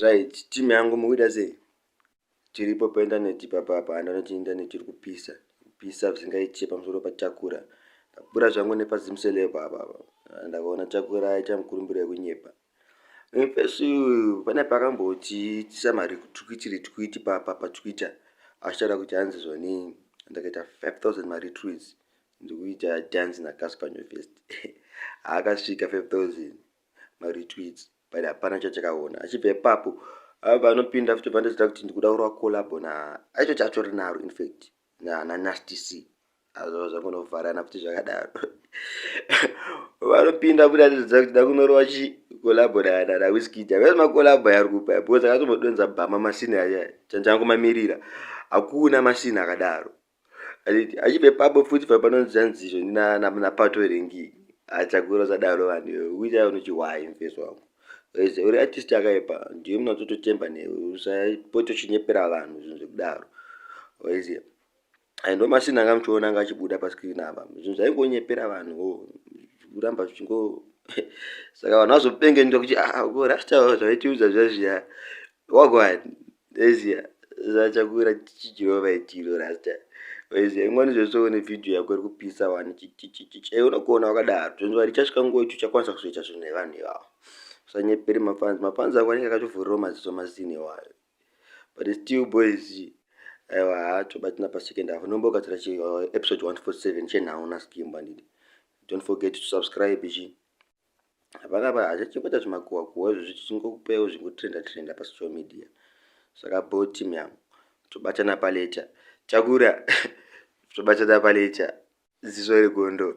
right team yangu mukuita sei tiripo paindaneti papapa and anoti indaneti iri kupisa kupisa zvisingaitye pamusoro pachakura ndakura zvangu nepazimselepo apapa ndakaona chakura aita mukurumbiro yekunyepa pesu pane pakambotiitisa mari twitiri twiti papa patwitter achitaura kuti hanzi zvonii ndakaita 5000 mari twiz ndikuita dance na Casper Nyovest akasvika 5000 ma retweets but hapana chachakaona achibva ipapo ava anopinda futi bva ndizita kuti ndikuda kurova collabo na aicho chacho rinaro in fact na na nasty c azvava zvakunovharana futi zvakadaro vanopinda futi atizita kuti ndakunorova chi collabo na na na whiskey java yes macollabo yari kupa because akatomodonza bhama masini aya chanjangu mamirira hakuna masini akadaro achiti achive papo futi papanonzi zvanzizvo ndinanapato here ngii achakura usadaro vanhu iwe uita unochihwayi mfesi wako ese uri artist akaipa ndiwe mna utototemba newe usapote uchinyepera vanhu zvinhu zvekudaro ese aindo masini anga muchiona anga achibuda pascreen apa zvinhu zvaingonyepera vanhu wo kuramba zvichingo saka vanhu vazopenge nda kuti ah, ah, ko rasta zvavaitiudza zvazviya wagwani Ezia zvachakuwira chichirova ichiro rasta Ezia ingwani zvese une video yako iri kupisa wani chichichichich ei unokuona wakadaro zvenzwa richasvika nguva icho chakwanisa kuzoita zvinhu nevanhu ivavo usanyepere mafanzi mafanzi ako anenge akatuvhurirawo maziso mazini iwayo but still boys aiwa hacho batina pasecond avo nombokatsira chi uh, episode 147 chenhau naskimba ndidi don't forget to subscribe chi hapana pa hachachengeta zvimakuhwa kuhwa izvo zvichingokupeo zvingotrenda trenda pasocial media saka bo team yangu tobatana palecha takura tobatana palecha ziso regondo